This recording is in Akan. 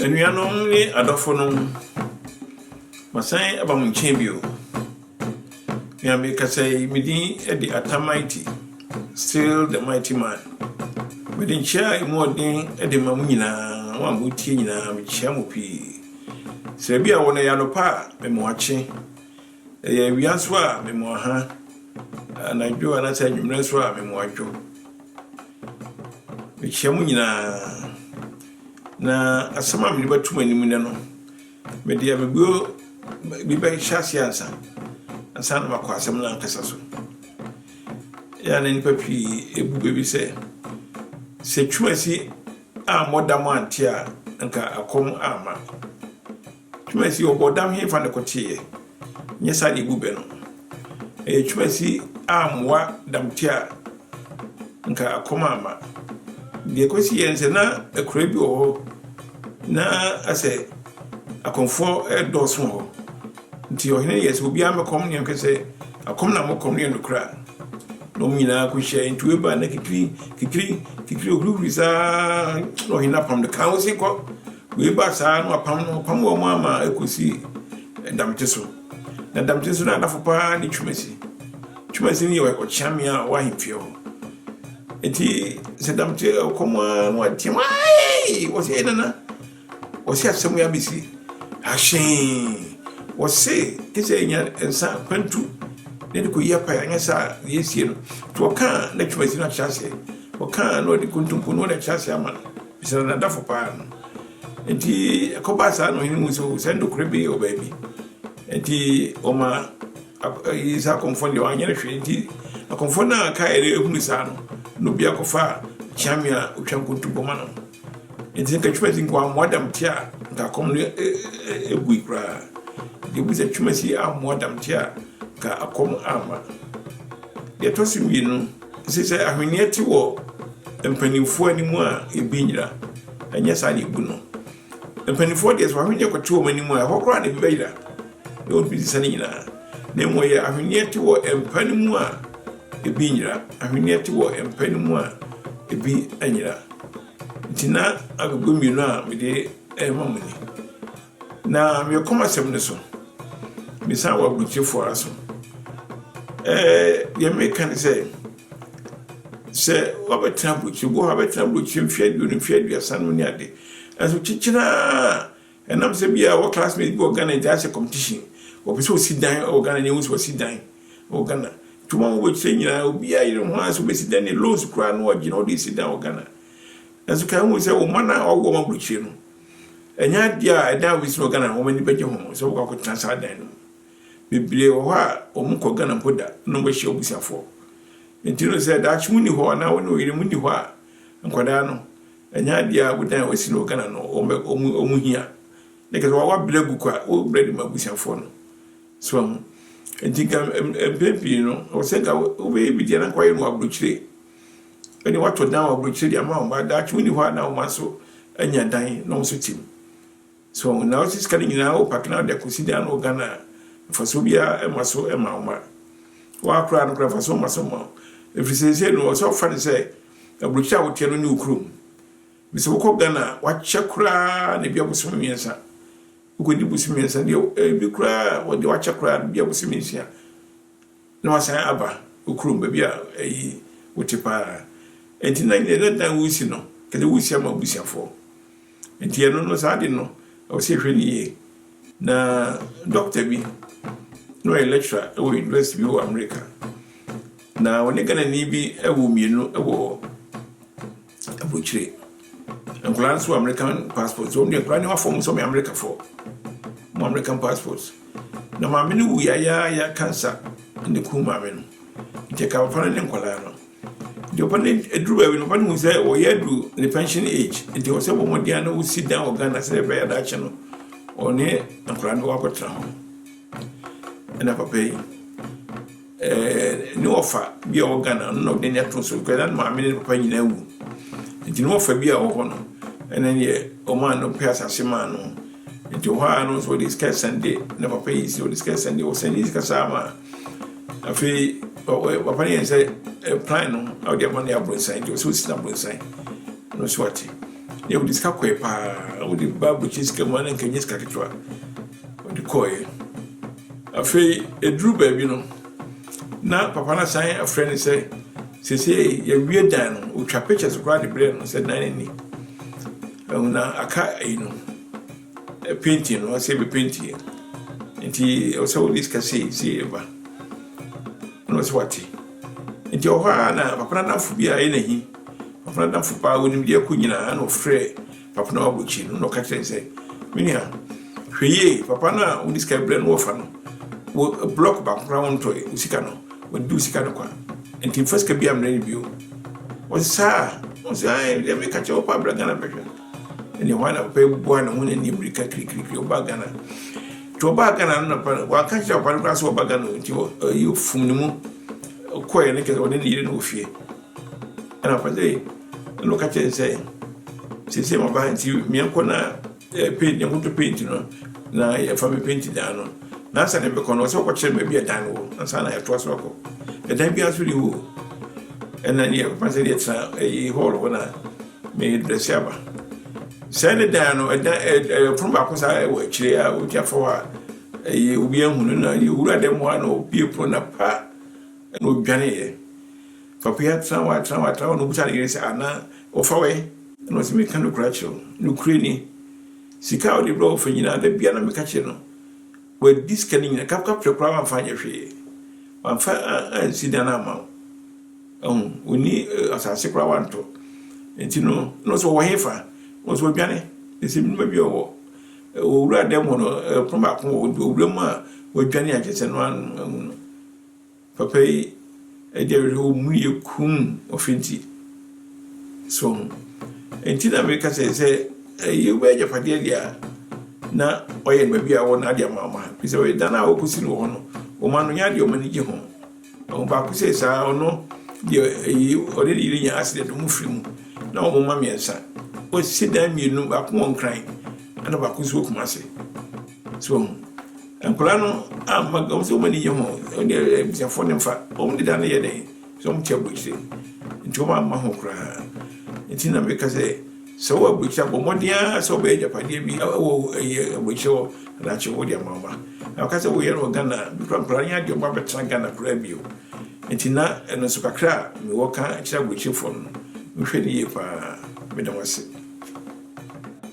Anuanom ne adɔfonom, masan aba mo nkyɛn bio. Nea mekasa yi, me din de Atta Mighty, still the mighty man. Mede nkyia a emu ɔden de ma mo nyinaa, mo a motie nyinaa, mekyia mo pii. Sɛ bi a wɔn ɛyɛ anɔpa a, mewɔ akye. Ɛyɛ awia so a me mu aha, anadwo anaasɛ anwummerɛ nso a me mu adwo. Mekyia mo nyinaa, na asɛm a mede bɛto mo anim nnɛ no, mede amebuo bi bɛhyɛ ase ansa ansa na makɔ asɛm no ankasa so. Ɛyɛ a na nnipa pii bu baabi sɛ sɛ twumasi ammɔ da mo ante a nka akɔm amma. Twumasi ɔbɔdam henfa na ɛkɔteeɛ? Nyɛ saa na ebu bɛ no. Ɛyɛ twumasi ammoa damte a nka akɔm amma. Deɛ ɛkɔsiiɛ ne sɛ na akuraa bi wɔ hɔ na asɛ akɔmfoɔ redɔɔso wɔ hɔ. Nti ɔhene yɛɛ sɛ obiara mmɛkɔm ne yɛnhwɛ sɛ akɔm na mokɔm no yɛ nokorɛ a. Na wɔn nyinaa kɔhyiae. Nti wei baa na kikiri kikiri kikiri ohurihuri saa na ɔhene apam no kaa wɔn se kɔ. Wei baa saa ara na wɔapam no, wɔpam wɔn ara ma ɛkɔsii Damte so. Na Damte so no anafo pa ara ne Twumasi. Twumasi no yɛ ɔkyeamea a ɔwɔ ahemfie hɔ. Enti sɛ Damte ɔkɔm ara na wɔateam, ae! Wɔse, ei nana, wɔse asɛm yi abɛsi ahyee. Wɔse gye sɛ yɛnya nsa kwantu na yɛde kɔyi apae, anyɛ saa a deɛ ɛresie no. Nti wɔkaa na Twumasi no akyerɛ aseɛ, wɔkaa na wɔde kontompo na wɔde akyerɛ aseɛ ama no. Mesrɛ n'adɔfo paa no. Enti ɛkɔbaa saa na ɔhene hu sɛ, o, sɛ ɛnde ɔkura bi wɔ baabi. Enti ɔma yii saa akɔmfoɔ no deɛ wanyɛ no hwee. Enti akɔmfoɔ no a kaeɛ no hunu saa no, na obiara kɔfaa kyeame a ɔtwa nkontompo ma no. Enti nka Twumasi nko ammoa Damte a nka akɔm no agui koraa. Enti ɛbu sɛ Twumasi ammoa Damte a nka akɔm amma. Deɛ ɛtɔ so mmienu. Enti sɛ ahweneɛ te wɔ mpanimfoɔ anim a, ɛbɛyera. Ɛnyɛ saa na ɛbu no. Mpanimfoɔ deɛ sɛ ahweneɛ kɔte wɔn anim a, ɛhɔ koraa na ɛbi bɛyera. Na wɔntumi nsesa ne nyinaa. Na mmom ɛyɛ ahweneɛ te wɔ mpa no mu a, ɛbi nyera. Ahweneɛ te wɔ mpa no mu a, ɛbi nyera. Nti na agogo mmienu a mede rema mo ni. Na mekɔm asɛm no so, mesan wɔ aburokyefo ara so. Ɛɛ, deɛ meka ne sɛ, sɛ wɔbɛtena aburokyire, bɔ hɔ abɛtena aburokyire mfe aduonu, mfe aduasa no ne ade. Nanso kyekyere a, ɛnam sɛ bi a wɔ classmate bi wɔ Ghana, nti asɛ competition, wɔpɛ sɛ wɔsi dan wɔ Ghana, nyɛ hu sɛ wɔsi dan wɔ Ghana. Nti wɔn a wɔwɔ akyire nyinaa, obiara yere ho ara sɛ wɔbɛsi dan, ne loans koraa no ɔgye na ɔde si dan wɔ Ghana. Nanso kan hu sɛ wo mma no a wɔawo wɔn aburokyire no, Ɛnyɛ adeɛ a ɛdan a wɔsi wɔ Ghana wɔn ani bɛgye ho sɛ wɔkɔ akɔtena saa dan no mu. Bebree wɔ hɔ a wɔn kɔ Ghana mpo da na wɔbɛhyia wɔn abusuafoɔ. Nti no sɛ daakye wonni hɔ anaa wɔne wɔn yere mu nni hɔ a, nkwadaa no, ɛnyɛ adeɛ a wodan a wɔsi no wɔ Ghana no wɔn bɛ wɔn wɔn hia. Ne kɛse wɔabrɛ gu kwa wɔbrɛ de ma abusuafoɔ no. So ahu. Nti nka mpɛn pii no wɔsɛ nka wobɛyɛ bi deɛ na nka wɔayɛ no wɔ aburokyire. ɛne wɔato dan wɔ aburokyire de ama wɔn ba daakye wɔn ni hɔ a na wɔn mma nso anya dan na wɔn nso te mu so na wɔsi sika no nyinaa wɔ pake na de akɔsi dan no wɔ ghana a mfasoɔ biara ma so ma wɔn ba wɔakora no kora mfasoɔ ma so ma ɛfiri sɛ sɛ no ɔsɛ ɔfa no sɛ aburokyire a woteɛ no ne wo kurom mesɛ wokɔ ghana a wakyɛ koraa na ebi abosome mmiɛnsa wokɔdi bosome mmiɛnsa deɛ ebi koraa wɔde wakyɛ koraa ebi abosome nsia na wɔasan aba wo kurom, baabi a ayi wote pa ara. Enti na nea na dan wusi no, ɛde wusi ama abusuafoɔ. Enti ɛno no, saa ade no, ɛwɔ sɛ yɛhwɛ no yie. Na dɔkta bi, na ɔyɛ lecturer wɔ university bi wɔ Amerika, na ɔne Ghanani bi wɔ mmienu wɔ Abokyire. Nkwadaa nso wɔ American passport. Nti wɔn deɛ nkwadaa nneɛma fam sɛ wɔyɛ Amerikafoɔ. Wɔn American passport. Na maame no wuiɛ ayaayaa cancer na ekum maame no. Nti ɛka papa no ne nkwadaa no. Nti papa no aduru baabi no papa no hu sɛ wɔyɛ adu ne pension age. Nti wɔ sɛ wɔn mmɔden ano wosi dan wɔ Ghana sɛ ɛbɛyɛ daakye no ɔne nkwadaa no wakɔtena hɔ. Ɛna papa yi. ne wɔfa bi a ɔwɔ Ghana no na ɔde n'ani ato so because na ne maame ne ne papa nyinaa awu. Nti ne wɔfa bi a ɔwɔ hɔ no ɛna deɛ ɔmaa no pɛ asase maa no. Nti ɔhɔ ara no nso ɔde sika sɛnde ne papa yi si ɔde sika sɛnde ɔsɛnde sika saa ma afei papa no yɛn sɛ plan no a ɔde ama no yɛ aborosan nti ɔsɛ ɔsi no aborosan no so ate. Yɛ ɔde sika kɔɛ paa ɔde ba abɔkyɛ sika mu a na nka nyɛ sika ketewa. ɔde kɔeɛ. Afei ɛduru baabi no, na papa no asan afrɛ no sɛ seesei yɛawie dan no, ɔtwa pictures koraa de brɛ no sɛ dan no ni. Ɛho na aka yi no, painting no, ɔsɛ bɛpentiɛ. Nti ɔsɛ wode sika sei sei ɛba. Ɛna ɔsɛ wate. Nti ɔhɔ a na papa no adamfo bi a ɛyɛ n'ahi, papa no adamfo paa wɔnim deɛ ɛkɔ nyinaa na ɔfrɛ Afei na wabɔ akyiri no na ɔka kyerɛ no sɛ, Me nua, hwɛ yie, papa no a wode sika brɛ no wɔfa no, wo blɔk baako koraa wontɔe, wo sika no, wɔde di wo sika no kwa. Nti mfa sika biara mmerɛ no bio. Ɔse saa? Ɔse ae, deɛ meka kyerɛ wo paa bra Ghana bɛhwɛ. Ɛne hɔ na papa yi boa ne ho ne ne mmirika kirikirikiri ɔbaa Ghana. Nti ɔbaa Ghana no na pa no, wanka kyerɛ papa no koraa sɛ ɔba Ghana nti ɔyi fum ne mu kɔɛ ne kyerɛ sɛ ɔne ne yere no wɔ fie. Ɛna ɔka sɛ, ɛna ɔka kyerɛ no sɛ, seesei maba nti meɛnkɔ na paint yɛnkɔtɔ paint no na yɛfa me paint dan no na ansa na mɛkɔ no ɔsɛ ɔkɔkyerɛ me baabi a dan no wɔ ansa na yɛtoa so akɔ ɛdan biara nso ne hɔ ɛna ne yɛ papa sɛ deɛ tena ɛyi hall hɔ na meyɛ drɛse aba saa ne dan no ɛdan ɛpono baako saa ɛwɔ akyire a ɔgya fɔ hɔ a ɛyɛ obi ahunu na yɛwura dɛ mu a na ɔbie pono na pa ɛna ɔdwaneeɛ Ɔbea trawa trawa trawa na obisa ne yere sɛ, Ana wɔfa wo ɛ? Ɛna ɔse, Meka nokorɛ akyerɛ wo, nokorɛ ni, sika a wode brɛ wɔfa nyinaa, da biara na meka kyerɛ no, wadi sika no nyinaa, kap kap hwɛ koraa wamfa anyɛ hwee, wamfa ansi dan amma wo. Ahu, ɔnni asase koraa wantɔ. Nti no, na ɔse, Ɔwɔ hefa? Ɔse, Wadwane. Ne sɛ menima bi ɔwɔ owura dan mu hɔ no, ɛpono baako wɔ hɔ, nti owura mu a wadwane a kyerɛ sɛ no ano ahu no. Papa yi ɛdi awerɛhow mu yɛ komm ɔfentie. So ho? Enti na meka sɛ sɛ ɛyɛ obi agyapadeɛ deɛ a na ɔyɛ no baabi a ɔwɔ no ade ama ɔma ha. Ɛfiri sɛ ɔyɛ dan a ɔkɔsi no wɔ hɔ no, ɔma no nyɛ adeɛ ɔma no gye ho. Ɛho baako sɛ saa ɔno deɛ ɛyi ɔde ne yere nya accident ɔmo firi mu na ɔmo ma mmiɛnsa. Ɔsi dan mmienu baako wɔ Nkran ɛna baako nso wɔ Kumasi. So wahu? Nkwadaa no amma wɔn sɛ wɔn ani gye ho. Wɔn deɛ eh, abusuafoɔ no mfa. Wɔn deda no yɛ dɛn? Sɛ wɔn te aburokyire. Nti wɔn amma ho koraa. Nti na meka sɛ sɛ wɔ aburokyire abɔ mmɔden ara sɛ wɔbɛyɛ agyapadeɛ bi wɔ ɛyɛ aburokyire hɔ anakye wɔ de ama ɔma. Na wɔka sɛ wɔyɛ no wɔ Ghana. Bi kora nkwadaa no yɛ adeɛ wɔn abɛtena Ghana koraa bio. Nti na ɛno nso kakra a mewɔ ka kyerɛ aburokyirefoɔ no. Mohwɛ no yie paa. Meda mo ase.